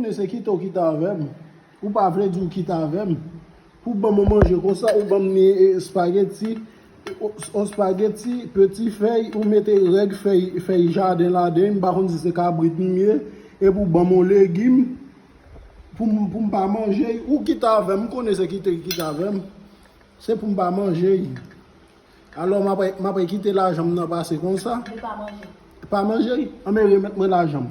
Tine se kite w kite avè m. Ou pa vle di w kite avè m. Pou w ban mwen manje konsa, ou ban m ni espageti, yon espageti, peti fèy, ou mete règ fèy, fèy jaden ladan, m pa konn si se kabrit m ye, epi w ban m yon legim pou m, pou m pa manje l. Ou kite avè m, m konnen se kite w kite avè m. Se pou m pa manje l. Alò m ap, m ap kite lajan m nan pase konsa? Ou pa manje l. Pa manje l? Anben remèt mwen lajan m.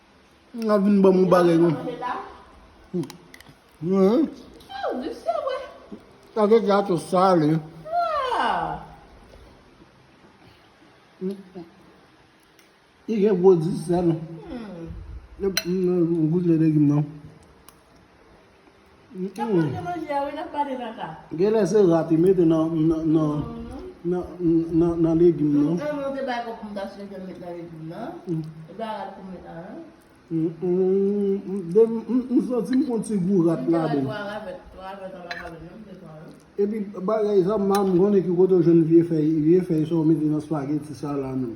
Mwen ap vin ban mwen bagay mwen. Mwen. Ou di se wè. A vè di a to sal e. I gen gwo di sal. Mwen gout le de gim nan. Genlè se rat li mete nan nan legim nan. Mwen menm se bay kòk mwen ta chèche met nan legim nan. Se pa rat pou met nan nan. M santi m konn ti gou rat la de. E pi bagay sa m pa m konnen ki kote ou jwenn vye fèy sa ou mete nan spageti sa la menm.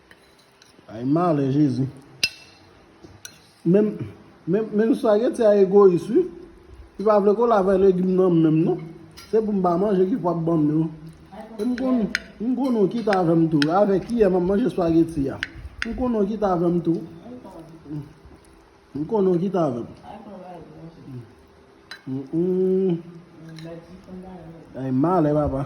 Ay malè jezi. Menm menm spaghetti a egoyis wi. Li pa vle kole avè legim nan menm non. Se pou m pa manje ki fè wap banm yo. M konn m konn ou ki ta avè m tou. Avè kiyè map manje spaghetti a. M konn ou ki ta avè m tou. M konn ou ki ta avè m. Ay malè papa.